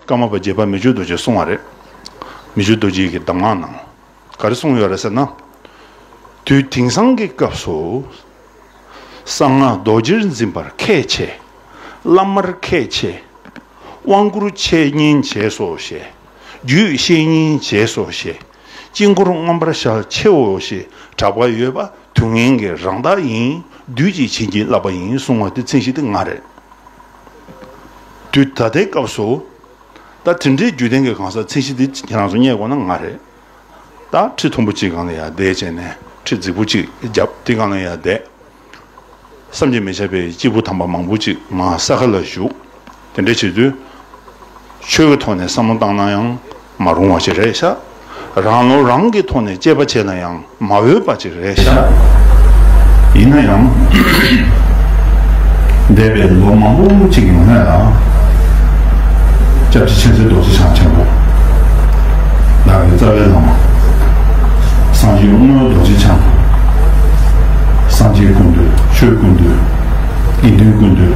ཀརྨ་པ་བརྒྱད་པ་མི་བརྗོད་རྡོ་རྗེ་གསུང་བ་རེད། མི་བརྗོད་རྡོ་རྗེ་གི་གདམས་ངག་ནང་ག་རེ་གསུང་ཡོད་རེད་ཟེར་ན། དུས་དེང་སང་གི་སྐབས་སུ་གསང་སྔགས་རྡོ་རྗེར་འཛིན་པར་ཁས་འཆེ། བླ་མར་ཁས་འཆེ། དབང་བསྐུར་འཆད་ཉན་བྱས་སོ་ཞེས། རྒྱུད་བཤད་ཉན་བྱས་སོ་ཞེས། དཀྱིལ་འཁོར་མངོན་པར་ཤར་ཕྱེའོ་ཞེས་གྲགས་པ་ཡོད་པ་དུས་ངན་གྱི་རང་རྟགས་ཡིན་དུས་ཀྱི་བྱིན་གྱིས་བརླབས་པ་ཡིན་གསུང་བ་དེ་ཚིག་གཞི་དེ་ང་རེད། དུས་ད་ལྟའི་སྐབས་སུ། ད་དེ་འདྲའི་རྒྱུད་ལྡན་གྱི་གང་ཟག་མཚན་གཞི་འདི་ཁྱེད་རང་ཚོ་རྙེད་དགོས་ན་ང་རེད། ད་ཁྲི་མཐོན་པོ་གཅིག་གང་ལ་ཡ་བསྡད་བྱས་ནས་ཁྲི་རྫིག་པོ་གཅིག་བརྒྱབ་དེ་གང་ལ་ཡ་བསྡད། བསམ་གྱིས་མི་ཁྱབ་པའི་སྐྱེས་བུ་དམ་པ་མང་པོ་ཅིག་ང་ས་ག་ལ་བཞུགས། དེ་འདྲ་བྱེད་དུས། ཆོས་ཀྱི་ཐོག་ནས་བསམ་བློ་བཏང་ན་ཡང། མ་རུང་བ་ཅི་རེད་ཤག། རང་བློ་རང་གི་ཐོག་ནས་དཔྱད་པ་བྱས་ན་ཡང་མ་འོས་པ་ཅིག་རེད་ཤག། ཡིན་ན་ཡང། འདས་པའི་ལོ་མང་པོ་ཅིག་ཡོང་སྔོན་ལ། སྐྱབས་རྗེ་མཁྱེན་བརྩེ་རྡོ་རྗེ་འཆང་ཆེན་པོ། ཟླ་བའི་རྩ་བའི་བླ་མ། སངས་རྒྱས་དབུ་མའི་རྡོ་རྗེ་འཆང། སངས་རྒྱས་ཀུན་འདུས་ཆོས་ཀུན་འདུས། དགེ་འདུན་ཀུན་འདུས།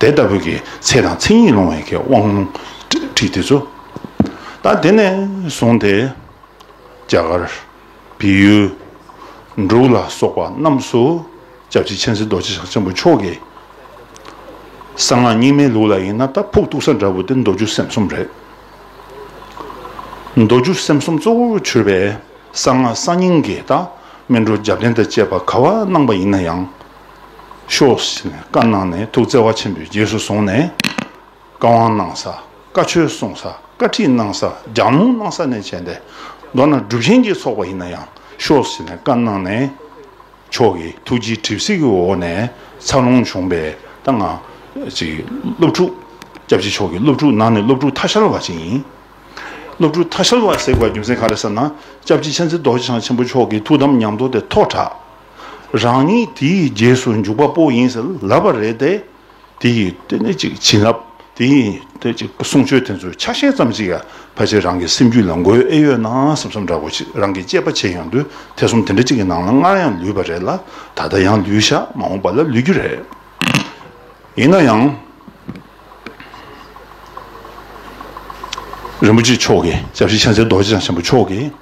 དེ་ལྟ་བུ་གི་ཚེ་དང་མཚན་ཉིད་སློང་བའི་གེ་དབང་ལུང་ཁྲིད་འདི་ཚོ། ད་དེ་ནས་བཟུང་སྟེ། རྒྱ་གར། བི་ཡུལ། འབྲུག་ལ་སོགས་པ་རྣམས་སུ། སྐྱབས་རྗེ་མཁྱེན་བརྩེ་རྡོ་རྗེ་ཞང་ཆེན་པོ་མཆོག་གི། གསང་སྔགས་རྙིང་མའི་ལུགས་ལ་ཡིན་ན་རྟ་ཕུག་གཏུག་ས་འདྲ་བོ་དེ་མདོ་སྒྱུ་སེམས་གསུམ་རེད། མདོ་སྒྱུ་སེམས་གསུམ་གཙོ་བོར་གྱུར་པའི་གསང་སྔགས་གསང་སྙིང་གི་རྟགས་སྨིན་གྲོལ་རྒྱབ་རྟེན་དང་བཅས་པ་ག་བ་གནང་པ་ཡིན་ན་ཡང་ཤོག། ཞེས་ནས་བཀའ་གནང་ནས་ཐུགས་བརྩེ་བ་ཆེན་པོས་རྗེས་སུ་བཟུང་ནས། བཀའ་དབང་གནང་ས། བཀའ་ཆོས་གསུང་ས། བཀའ་ཁྲིད་གནང་ས། ལྗགས་རྨོངས་གནང་ས་ནས་བྱས་ཏེ། མདོར་ན་སྒྲུབ་ཆེན་གྱི་ཚོགས་པ་ཡིན་ན་ཡང་ཤོག་ཞེས་ནས་བཀའ་གནང་ནས། མཆོག་གི་ཐུགས་རྗེའི་གྲིབ་བསིལ་གྱི་འོག་ནས་འཚར་ལོངས་བྱུང་པའི་ད་སྔ། ཅིག། སློབ་ཕྲུག། སྐྱབས་རྗེ་མཆོག་གི་སློབ་ཕྲུག་ནང་ནས་སློབ་ཕྲུག་ཐ་ཤལ་བ་ཞིག་ཡིན། སློབ་ཕྲུག་ཐ་ཤལ་བ་ཟེར་བའི་རྒྱུ་མཚན་ག་རེ་ཟེར་ན། སྐྱབས་རྗེ་མཁྱེན་བརྩེ་རྡོ་རྗེ་འཆང་ཆེན་པོ་མཆོག་གི་ཐུགས་དམ་ཉམས་རྟོགས་དེ་ཐོག་དྲགས། རང་ཉིད་དེའི་རྗེས་སུ་འཇུག་པ་པོ་ཡིན་ཟེར་ལབ་པ་རེད་དེ། དེ་ཡིས་དེ་ནི་ཅིག་བྱིན་རླབས་དེ་ཡིན་དེ་ཅིག་གསུང་ཆོས་དེ་ཚོའི་ཆ་ཤས་ཙམ་ཅིག་ཡ་ཕ་ཆེ་རང་གི་སེམས་རྒྱུད་ལ་འགོས་ཨེ་ཡོད་ན་བསམ་བསམ་འདྲ་གོ་ཆེ་རང་གི་གཅེས་པ་ཆེ་ཡང་དུས་དེ་གསུམ་དེ་འདྲ་ཅིག་གི་ནང་ལ་སྔར་ཡང་ལུས་པ་རེད་ལ་ད་ལྟ་ཡང་ལུས་ཤག་མ་འོངས་པ་ལ་ལུས་རྒྱུ་རེད། ཡིན་ན་ཡང། རིན་པོ་ཆེ་མཆོག་གིས་ཞབས་ཕྱི་ཆ་འཚལ་རྡོ་རྗེ་འཆང་ཆེན་པོ་མཆོག་གིས།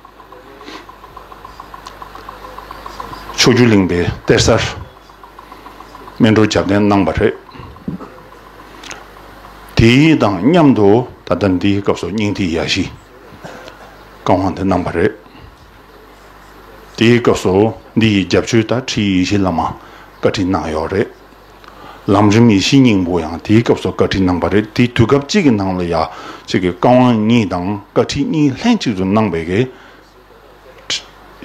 ཕྱོགས་བཅུ་གླིང་པའི་གཏེར་གསར། སྨིན་གྲོལ་རྒྱབ་རྟེན་གནང་བ་རེད། དེ་དང་མཉམ་དུ་ད་ལྟ་འདིའི་སྐབས་སུ་སྙིང་ཐིག་ཡ་བཞི། བཀའ་དབང་དེ་གནང་བ་རེད། དེའི་སྐབས་སུ་འདི་ཡི་རྒྱབ་ཆོས་ད་ཁྲིད་ཡེ་ཤེས་བླ་མ་བཀའ་ཁྲིད་གནང་ཡོད་རེད། ལམ་རིམ་ཡེ་ཤེས་སྙིང་པོ་ཡང་དེའི་སྐབས་སུ་བཀའ་ཁྲིད་གནང་བ་རེད་དེ་དུས་སྐབས་གཅིག་གི་ནང་ལ་ཡ་གཅིག་གི་བཀའ་དབང་གཉིས་དང་བཀའ་ཁྲིད་གཉིས་ལྷན་གཅིག་ཏུ་གནང་བས་ཀྱི།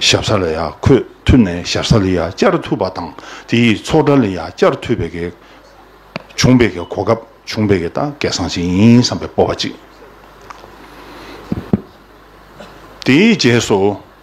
ཞབས་ས་ལ་ཡ་ཁོས་ཐུབ་ནས་ཞབས་ས་ལ་ཡ་བསྐྱར་ཐུབ་པ་དང་དེ་ཡིས་ཚོགས་གྲྭ་ལ་ཡ་བསྐྱར་ཐུབ་པས་ཀྱི། བྱུང་བས་ཀྱི་གོ་སྐབས་བྱུང་བས་ཀྱི་ད་སྐལ་བཟང་ཞིག་ཡིན་བསམ་པའི་སྤོབས་པ་གཅིག། དེའི་རྗེས་སུ།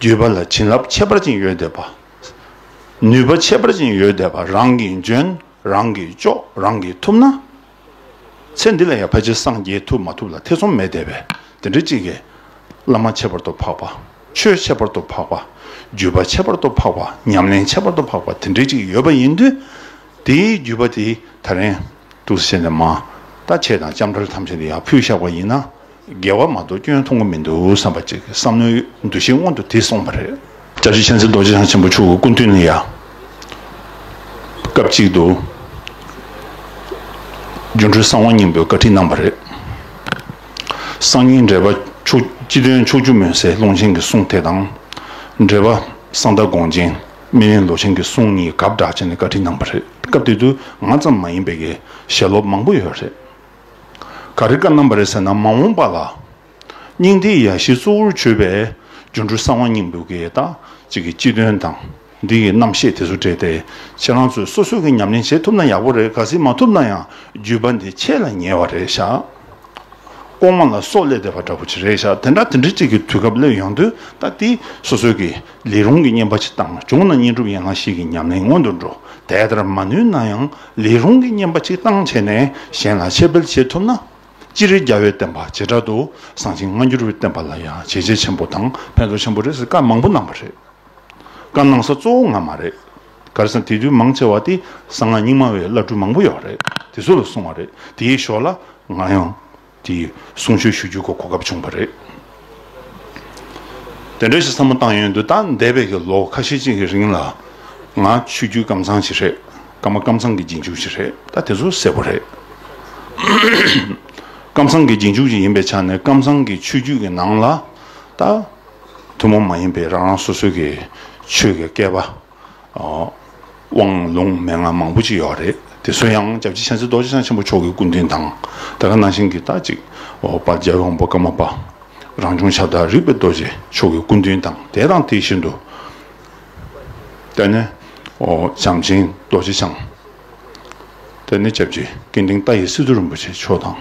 བརྗོད་པ་ལ་བྱིན་རླབས་ཁྱད་པར་ཅན་ཡོད་དད་པ། ནུས་པ་ཁྱད་པར་ཅན་ཡོད་དད་པ་རང་གིས་འཇོན་རང་གིས་ལྕོགས་རང་གིས་ཐུབ་ན། ཚེ་འདི་ལ་ཡང་ཕལ་ཆེར་སངས་རྒྱས་ཐུབ་མ་ཐུབ་ལ་ཐེ་ཚོམ་མེད་དད་པས་དེ་འདྲ་གཅིག་གིས། བླ་མ་ཁྱད་པར་དུ་འཕགས་པ། ཆོས་ཁྱད་པར་དུ་འཕགས་པ། བརྒྱུད་པ་ཁྱད་པར་དུ་འཕགས་པ་ཉམས་ལེན་ཁྱད་པར་དུ་འཕགས་པ་དེ་འདྲ་གཅིག་ཡོད་པ་ཡིན་དུས། དེའི་བརྒྱུད་པ་དེས་ད་རིང། ཏུ་བྱས་ནས་མ། ད་བྱས་དང་ལྕམ་དྲལ་ཐམས་ཅད་དེ་ཡང་ཕུལ་བཞག་པ་ཡིན་ན། རྒྱལ་བ་མ་གཏོགས་སྐྱོན་མཐོང་གི་མི་འདུག་བསམ་པ་གཅིག་གི་བསམ་བློའི་འདུ་ཤེས་སྔོན་དུ་དེད་སོང་བ་རེད། བཀྲ་ཤིས་མཁྱེན་བརྩེ་རྡོ་རྗེ་འཆང་ཆེན་པོ་མཆོག་གི་སྐུ་མདུན་ནས་ཡང་སྐབས་གཅིག་ཏུ་སྒྱུ་འཕྲུལ་གསང་བ་སྙིང་པོའི་བཀའ་ཁྲིད་གནང་བ་རེད། གསང་སྙིང་འགྲེལ་པ་ཕྱོགས་སྤྱི་དོན་ཕྱོགས་སྒྱུ་མོས་སའི་ཀློང་ཆེན་གྱི་གསུང་དེ་དང། འགྲེལ་པ་གསང་བདག་དགོངས་ཆེན་སྨིན་གླིང་ལོ་ཆེན་གྱི་གསུང་གཉིས་གབ་བསྒྲགས་བྱས་ནས་བཀའ་ཁྲིད་གནང་བ་རེད། སྐབས་དེ་དུས་ང་ཙམ་མ་ཡིན་པའི་ཞལ་སློབ་མང་པོ་ཡོད་རེད། ག་རེ་ཀ་རྣམ་པ་རེད་ཟེར་ན་མ་འོངས་པ་ལ་སྙིང་ཐིག་ཡ་བཞི་གཙོ་བོར་བརྗོད་པའི་སྒྱུ་འཕྲུལ་གསང་བ་སྙིང་པོའི་དགེ་རྟགས་གཅིག་གི་སྤྱི་དོན་དང་འདི་ཡི་རྣམ་བཤད་དེ་ཚོ་བྲིས་ཏེ་ཁྱེད་རང་ཚོས་སོ་སོས་ཀྱིས་ཉམས་ལེན་བྱེད་ཐུབ་ན་ཡག་པོ་རེད་ག་སྲིད་མ་ཐུབ་ན་ཡང་བརྒྱུད་པ་འདི་ཁྱེད་ལ་ཉེ་བ་རེད་ཤག་ལྐོག་མ་ལ་སོགས་སླེབས་བསྡད་པ་འདྲ་པོ་ཅིག་རེད་ཤག་དེ་འདྲ་དེ་འདྲ་ཅིག་གི་དུས་སྐབས་སླེབས་ཡོང་དུས་ད་ལྟའི་སོ་སོས་ཀྱིས་ལས་རུང་གི་བསྙེན་པ་ཅིག་བཏང་བྱུང་ན་བསྙེན་སྒྲུབ་ཡན་ལག་བཞི་གི་ཉམས་ལེན་སྔོན་དུ་འགྲོ་དལ་དར་མ་ནུས་ན་ཡང། ལས་རུང་གི་བསྙེན་པ་གཅིག་བཏང་བྱས་ནས་གཞན་ལ་འཆད་སྤེལ་བྱེད་ཐུབ་ན། སྤྱིར་རྒྱ་བོད་བསྟན་པ་བྱེ་བྲག་ཏུ་བཟང་ཞིང་སྔ་འགྱུར་བསྟན་པ་ལ་ཡང་བྱས་རྗེས་ཆེན་པོ་དང་ཕན་ཐོགས་ཆེན་པོ་རེད་ཟེར་བཀའ་མང་པོ་གནང་བ་རེད། བཀའ་གནང་ས་གཙོ་བོ་ང་མ་རེད། གར་ས་དེ་དུས་མང་ཆེ་བ་དེ་གསང་སྔགས་རྙིང་མ་བའི་བླ་སྤྲུལ་མང་པོ་ཡོད་རེད་དེ་ཚོ་ལ་གསུང་བ་རེད་དེའི་ཞོར་ལ་ང་ཡང། དེ་ཡིས་གསུང་ཆོས་ཞུ་རྒྱུའི་སྐོར་གོ་སྐབས་བྱུང་བ་རེད། དེ་འདྲ་ཞིག་བསམ་བློ་བཏང་ཡོད་འདུག་ད་འདས་པའི་གི་ལོ་ཁ་ཤས་ཅིག་གི་རིང་ལ། ང་ཆོས་བརྒྱུད་སྐམ་ཚང་ཞིག་རེད། སྐར་མ་སྐམ་ཚང་གི་རྗེས་འཇུག་ཞིག་རེད་ད་དེ་ཚོ་གསལ་པོ་རེད། སྐམ་ཚང་གི་རྗེས་འཇུག་ཅིག་ཡིན་པའི་ཆ་ནས་སྐམ་ཚང་གི་ཆོས་བརྒྱུད་ཀྱི་ནང་ལ། ད། ཐུན་མོང་མ་ཡིན་པའི་རང་རང་སོ་སོའི་གི་ཆོས་ཀྱི་སྐལ་པ། དབང་ལུང་མན་ངག་མང་པོ་ཅི་ཡོད་རེད་དེ་སུ་ཡང་བྱབ་རྗེ་བྱང་སེ་རྡོ་རྗེ་འཆང་ཆེན་པོ་མཆོག་གི་སྐུ་མདུན་དང་ད་ག་ནང་བཞིན་གྱི་རྟག་ཅིག་འོག་པར་རྒྱལ་བའི་དབང་པོ་ཀརྨ་པ་རང་བྱུང་ཆ་ལྟར་རིག་པའི་རྡོ་རྗེ་མཆོག་གི་སྐུ་མདུན་དང་དེ་དང་དེ་བཞིན་དུ། ལྟས་ན། བྱམས་ཆེན་རྡོ་རྗེ་འཆང། དེ་ནས་སྐྱབས་རྗེ་སྐལ་ལྡན་རྟ་ཡི་སི་ཏུ་རིན་པོ་ཆེ་མཆོག་དང།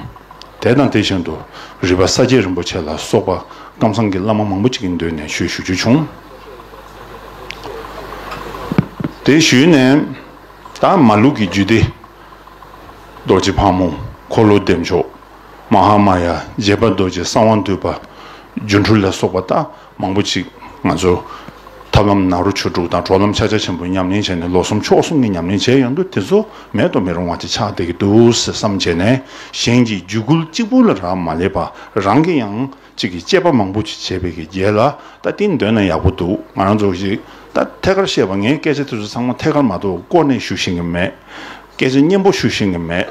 དེ་དང་དེ་བཞིན་དུ་རི་བ་ས་སྐྱའི་རིན་པོ་ཆེ་ལ་སོགས་པ་ཀམ་སངས་ཀྱི་བླ་མ་མང་པོ་ཅིག་གི་མདུན་ནས་ཞུས་ཞུ་རྒྱུ་བྱུང། དེ་ཞུས་ནས་ད་མ་ལུགས་ཀྱི་རྒྱུད་སྡེ། རྡོ་རྗེ་ཕག་མོ་འཁོར་ལོ་བདེ་མཆོག། མ་ཧཱ་མ་ཡ་རྗེ་དཔའ་རྡོ་རྗེ་གསང་བ་འདུས་པ། སྒྱུ་འཕྲུལ་ལ་སོགས་པ་དག། མང་པོ་ཅིག་ང་ཚོ་ཐབས་ལམ་ནང་རུ་ཆོས་དྲུག་དང་གྲོགས་ལམ་ཆ་ཆ་ཆེན་པོ་ཉམས་ལེན་བྱས་ནས་ལོ་གསུམ་ཕྱོགས་གསུམ་གྱི་ཉམས་ལེན་བྱས་ཡོང་དུས་དེ་ཚོ་མེད་དུ་མི་རུང་བ་ཅིག་ཆགས་བསྡད་ཀྱི་འདུག་ཟེར་བསམ་བྱས་ནས་གཞན་གྱི་རྒྱུད་སྐུལ་གཅིག་པུ་ལ་རག་མ་ལས་པ་རང་གི་ཡང་ཅིག་གི་དཔྱད་པ་མང་པོ་ཅིག་བྱས་པའི་གི་རྒྱལ་ལ་ད་ཏིན་འདོན་ན་ཡག་པོ་འདུག་ང་རང་ཚོ་ཞིག་ད་ཐད་ཀར་བཤད་པ་ངས་སྐད་ཆ་དེ་ཚོ་ཚང་མ་ཐད་ཀར་མ་གཏོགས་བསྐོར་ནས་ཞུ་བཞིན་གྱི་མེད་སྐད་ཆ་སྙན་པོ་ཞུ་བཞིན་གྱི་མེད།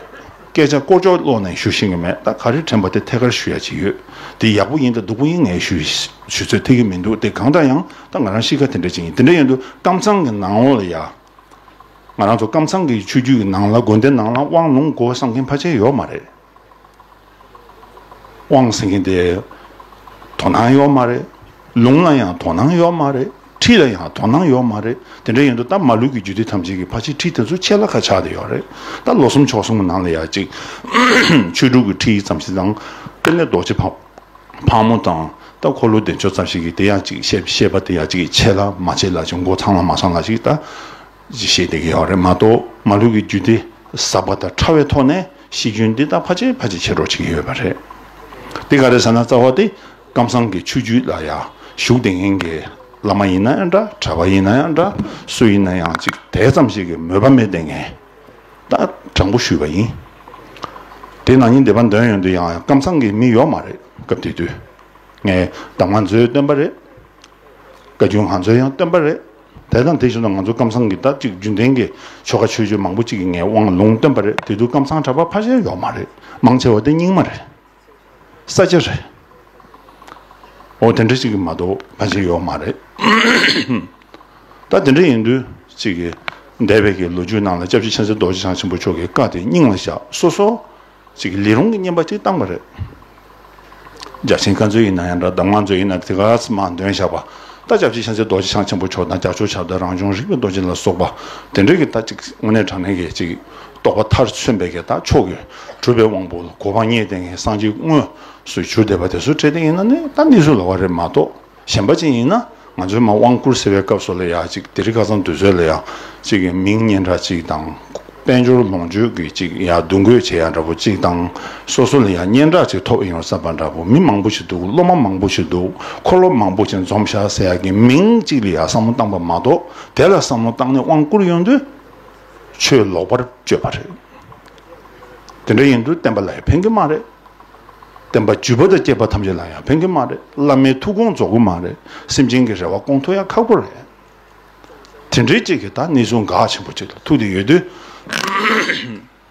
སྐད་ཆ་ཀོ་ཅོག་ཀློག་ནས་ཞུ་ཤེས་ཀྱི་མེད་ད་ག་རེ་དྲན་པ་དེ་ཐད་ཀར་ཞུ་ཡ་ཅི་ཡོད་དེ་ཡག་པོ་ཡིན་དང་སྡུག་པོ་ཡིན་ངས་ཞུ་ཚོད་ཐིག་གི་མི་འདུག་དེ་གང་འདྲ་ཡང་ད་ང་རང་གཤིས་ཀ་དེ་འདྲ་ཅིག་ཡིན་དེ་འདྲ་ཡིན་དུ་ཀམ་ཚང་གི་ནང་ལོག་ལ་ཡ། ང་རང་ཚོ་ཀམ་ཚང་གི་ཆོས་རྒྱུད་ཀྱི་ནང་ལ་དགོན་སྡེ་ནང་ལ་དབང་ལུང་སྒོ་བསམ་མཁན་ཕ་ཆེ་ཡོག་མ་རེད། དབང་བསམ་མཁན་དེ་དོ་སྣང་ཡོག་མ་རེད། ལུང་ལ་ཡང་དོ་སྣང་ཡོག་མ་རེད། ཁྲིད་ལ་ཡང་དོ་སྣང་ཡོད་མ་རེད། དེ་འདྲ་ཡིན་དུས་ད་མ་ལུས་ཀྱི་རྒྱུད་སྡེ་ཐམས་ཅད་ཀྱི་ཕ་ཕྱིའི་ཁྲིད་དེ་ཚོ་ཆད་ལ་ཁ་ཆགས་དེ་ཡོད་རེད། ད་ལོ་གསུམ་ཕྱོགས་གསུམ་གྱི་ནང་ལ་ཡ་གཅིག། ཆོས་དྲུག་གི་ཁྲིད་ཡིག་ཙམ་ཞིག་དང། དཔལ་ལྡན་རྡོ་རྗེ་ཕག་མོ་དང། ད་འཁོར་ལོ་བདེ་མཆོག་ཙམ་ཞིག་གིས་དེ་ཡང་གཅིག་བཤད་བཤད་པ་དེ་ཡ་གཅིག་གིས་ཆད་ལ་མ་ཆད་ལ་ཅིག་མགོ་ཚང་ལ་མ་ཚང་ལ་ཅིག་ད། བཤད་བསྡད་ཀྱི་ཡོད་རེད་མ་གཏོགས་མ་ལུས་ཀྱི་རྒྱུད་སྡེ་ཟབ་པ་དང་ཕྲ་བའི་ཐོག་ནས་གཤིས་རྒྱུན་འདི་ད་ཕ་ཆད་ཕ་ཆད་བྱེད་རོགས་བྱེད་ཀྱི་ཡོད་པ་རེད། དེ་ག་རེད་ཟེར་ན་རྩ་བ་དེ། ཀམ་སངས་ཀྱི་ཆོས་བརྒྱུད་ལ་ཡང་ཞུགས་དེ་ངན་གྱི་བླ་མ་ཡིན་ན་ཡང་འདྲ་གྲྭ་པ་ཡིན་ན་ཡང་འདྲ་སུ་ཡིན་ན་ཡང་ཅིག་དེ་ཙམ་ཞིག་གི་མོས་པ་མེད་དེ་ངན་ད་དྲང་པོ་ཞུས་པ་ཡིན། དེ་ནང་ཉིན་དེ་པ་འདོན་ཡོང་དུས་ཡང་ཀམ་སངས་ཀྱི་མི་ཡོག་མ་རེད་སྐབས་དེ་དུས་ངའི་གདམ་ང་ཚོའི་སྟོན་པ་རེད་བཀའ་རྒྱུད་ང་ཚོའི་ཡང་སྟོན་པ་རེད་དེ་དང་དེ་བཞིན་དུ་ང་ཚོ་ཀམ་སངས་ཀྱི་ད་ཅིག་རྒྱུན་ལྡན་གྱི་ཆོ་ག་ཆོས་བརྒྱུད་མང་པོ་ཅིག་གི་ངའི་དབང་ལུང་སྟོན་པ་རེད་དེ་དུས་ཀམ་སངས་གྲྭ་པ་ཕ་ཤེལ་ཡོག་མ་རེད་མང་ཆེ་བ་དེ་རྙིང་མ་རེད། ས་ཆ་རེད། འོ་དེ་འདྲ་ཅིག་གི་མ་གཏོགས་ཕ་ཆེར་ཡོག་མ་རེད། ད་དེ་འདྲ་ཡིན་དུས་ཅིག་གི་འདས་པའི་གི་ལོ་རྒྱུས་ནང་ལ་ལྕགས་ཀྱི་ཆེན་སྲས་རྡོ་རྗེ་འཆང་ཆེན་པོ་མཆོག་གི་བཀའ་དེ་སྙིང་ལ་བཞག་སོ་སོ་ཅིག་གི་ལི་རོང་གི་བསྙེན་པ་ཅིག་བཏང་བ་རེད། རྒྱ་ཆེན་བཀའ་མཛོད་ཡིན་ན་ཡང་འདྲ་གདམས་ངག་མཛོད་ཡིན་ན་དེ་ག་ཚོད་མང་འདོན་བཞག་པ་ད་ལྕགས་ཀྱི་ཆེན་སྲས་རྡོ་རྗེ་འཆང་ཆེན་པོ་མཆོག་དང་རྒྱ་ཆོས་ཆབ་དང་རང་བྱུང་རིག་པའི་རྡོ་རྗེ་ལ་སོགས་པ་དེ་འདྲ་གི་ད་ཅིག་དངོས་གནས་དྲང་གནས་ཀྱི་ཅིག་རྟོགས་པ་མཐར་མཚོན་པའི་གདངས་མཆོག་གི་གྲུབ་པའི་དབང་པོ་ལ་གོ་བ་ངེས་ཏེ་ངེས་གསང་གཅིག་དངོས་སུ་གྱུར་བསྡད་པ་དེ་སུ་ཁྲེལ་ཏེ་ཡིན་ན་ནི་ད་ནི་སུ་ལ་བ་རེད་མ་གཏོགས་གཞན་པ་ཅན་ཡིན་ན་ང་ཚོའི་མ་དབང་བསྐུར་ཟེར་བའི་སྐབས་སུ་ལ་ཡག་ཅིག་དེ་རི་ཁ་ཚང་འདུས་ཚོད་ལ་ཡག་ཅིག་གི་མིང་སྙན་གྲགས་ཅིག་དང་དཔལ་འབྱོར་ལོངས་སྤྱོད་ཀྱི་ཅིག་ཡག་བསྡུ་འགོད་བྱེད་ཡག་འདྲ་པོ་ཅིག་དང་སོ་སོ་ལ་ཡག་སྙན་གྲགས་ཅིག་ཐོབ་ཨེ་ཡོང་བསམ་པ་འདྲ་པོ་མི་མང་པོ་ཞིག་འདུག་སློབ་མ་མང་པོ་ཞིག་འདུག་འཁོར་ལོ་མང་པོ་ཅིག་འཛོམས་ཤག་ཟེར་ཡག་གི་མིང་ཅིག་ལ་ཡག་བསམ་བློ་བཏང་པ་མ་གཏོགས་དེ་ལ་བསམ་བློ་བཏང་ནས་དབང་བསྐུར་ཡོང་དུས། ཆོས་ལོག་པར་སྤྱོད་པ་རེད། དེ་འདྲ་ཡིན་དུས་བསྟན་པ་ལ་ཡང་ཕན་གྱི་མ་རེད། བསྟན་པ་བརྒྱུད་པ་དང་སྐྱེས་པ་ཐམས་ཅད་ལ་ཡང་ཕན་གྱི་མ་རེད་བླ་མའི་ཐུགས་དགོངས་རྫོགས་གི་མ་རེད་སེམས་ཅན་གྱི་རེ་བ་སྐོང་ཐུབ་ཡང་ཁག་པོ་རེད། དེ་འདྲའི་ཅིག་གིས་ད་ནི་གཟུངས་འགག་ཆེན་པོ་ཅིག་ལ་ཐུག་དེ་ཡོད་དུས།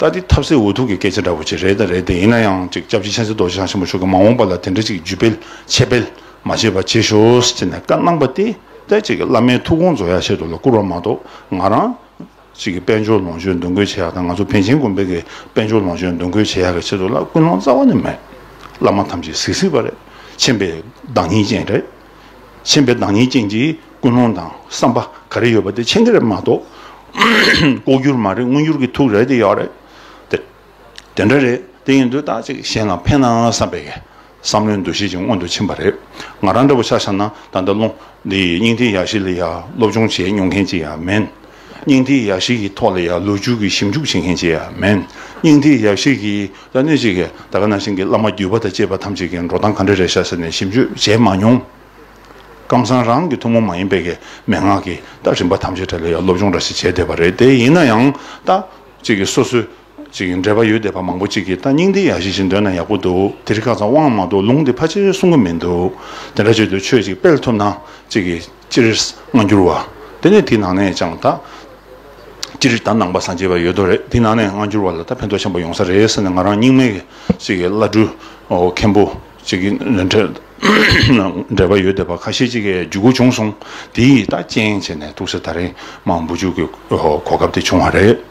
ལྟ་དེ་ཐབས་ཟད་འུ་ཐུག་གི་སྐད་ཆ་འདྲ་བོ་ཅིག་རེད་དང་རེད་དེ་ཡིན་ན་ཡང་ཅིག་སྐྱབས་རྗེ་མཁྱེན་བརྩེ་རྡོ་རྗེ་འཆང་ཆེན་པོ་མཆོག་གིས་མ་འོངས་པ་ལ་དེ་འདྲ་ཅིག་བརྒྱུད་སྤེལ་འཆད་སྤེལ་མ་བྱས་པ་བྱེད་ཞོར་ཅེས་ནས་བཀའ་གནང་པ་དེ་ལྟར་ཅིག་བླ་མའི་ཐུགས་དགོངས་རྫོགས་ཡར་བཤད་དུ་ལ་བསྐུར་བ་མ་གཏོགས་ང་རང་ཅིག་གིས་དཔལ་འབྱོར་ལོངས་སྤྱོད་འདུ་འགོད་བྱེད་ཡག་དང་ང་ཚོ་བན་ཆེན་དགོན་པའི་གིས་དཔལ་འབྱོར་ལོངས་སྤྱོད་འདུ་འགོད་བྱེད་ཡག་གི་ཆེད་དུ་ལ་ཀུན་སློང་རྩ་བ་ནས་མེད། བླ་མ་ཐམས་ཅད་གཟིགས་གཟིགས་པ་རེད་མཁྱེན་པའི་བདག་ཉིད་ཅན་རེད། མཁྱེན་པའི་བདག་ཉིད་ཅན་གྱི་ཀུན་སློང་དང་བསམ་པ་ག་རེ་ཡོད་པ་དེ་མཁྱེན་གྱི་རེད་མ་གཏོགས། ལྐོག་གྱུར་མ་རེད་དངོས་གྱུར་གྱི་ཐུགས་རེ་དེ་ཡོད་རེད། དེ་དེ་འདྲ་རེད་དེ་ཡིན་དུས་ད་ཅིག་གཞན་ལ་ཕན་ནའང་བསམ་པའི་བསམ་བློའི་འདུ་ཤེས་ཀྱིས་སྔོན་དུ་ཕྱིན་པ་རེད། ང་རང་འདྲ་བོ་ཆ་ཆ་ན་ད་ལྟ་ལོ་འདིའི་སྙིང་ཐིག་ཡག་ཤོས་ལ་ཡང་སློབ་སྦྱོང་བྱས་མྱོང་མཁན་ཅིག་ཡང་མིན། སྙིང་ཐིག་ཡག་ཤེས་ཀྱི་ཐོག་ལ་ཡང་ལོ་རྒྱུས་ཀྱི་ཞིབ་འཇུག་བྱེད་མཁན་ཅིག་ཡང་མིན། སྙིང་ཐིག་ཡག་ཤེས་ཀྱིས་ལ་གནོད་བྱེད་མཁན་ད་ག་ནང་བཞིན་གྱི་བླ་མ་བརྒྱུད་པ་དང་བཅས་པ་ཐམས་ཅད་ཀྱི་འགྲོ་སྟངས་ག་འདྲ་རེད་ཤ་ཟེར་ནས་ཞིབ་འཇུག་བྱས་མ་མྱོང། ཀམ་སང་རང་གི་ཐུན་མོང་མ་ཡིན་པའི་གི་མན་ངག་གི་ལྟ་རིམ་པ་ཐམས་ཅད་ཐད་ལ་ཡང་སློབ་སྦྱོང་འདྲ་ཞིག་བྱས་བསྡད་པ་རེད་དེ་ཡིན་ན་ཡང་ལྟ་ཅིག་གི་སོ་སོའི་ཅིག་གི་འབྲེལ་པ་ཡོད་བསྡད་པ་མང་པོ་ཅིག་གིས་ལྟ་སྙིང་ཐིག་ཡག་ཤེས་ཞིག་འདོན་ན་ཡག་པོ་འདུག་དེ་རིགས་ཁ་ཚང་དབང་མ་འདུག་ལུང་དེ་ཕ་ཆེར་གསུང་གི་མི་འདུག་དེ་འདྲ་བྱས་དུས་ཆོས་ཅིག་སྤེལ་ཐུབ་ན་ཅིག་གི། སྤྱིར་སྔ་འགྱུར་བ། དེ་ནས་དེའི་ནང་ནས་ཀྱང་ད། སྤྱིར་ད་ནང་པ་སངས་རྒྱས་པ་ཡོད་དོ་རེད་དེའི་ནང་ནས་སྔ་འགྱུར་བ་ལ་ད་ཕན་ཐོགས་ཆེན་པོ་ཡོང་ས་རེད་ཟེར་ནས་ང་རང་སྙིང་མེད་ཅིག་གིས་བླ་སྤྲུལ་མཁན་པོ་ཅིག་གི་འགྲེལ་པ་ཡོད་བསྡད་པ་ཁ་ཤས་ཅིག་གི་བརྒྱུད་སྐུར་བྱུང་སོང་དེའི་ད་རྐྱེན་བྱས་ནས་ཐུགས་སྲས་ད་རིང་མང་བུ་བཅུག་གི་གོ་སྐབས་དེ་བྱུང་བ་རེད།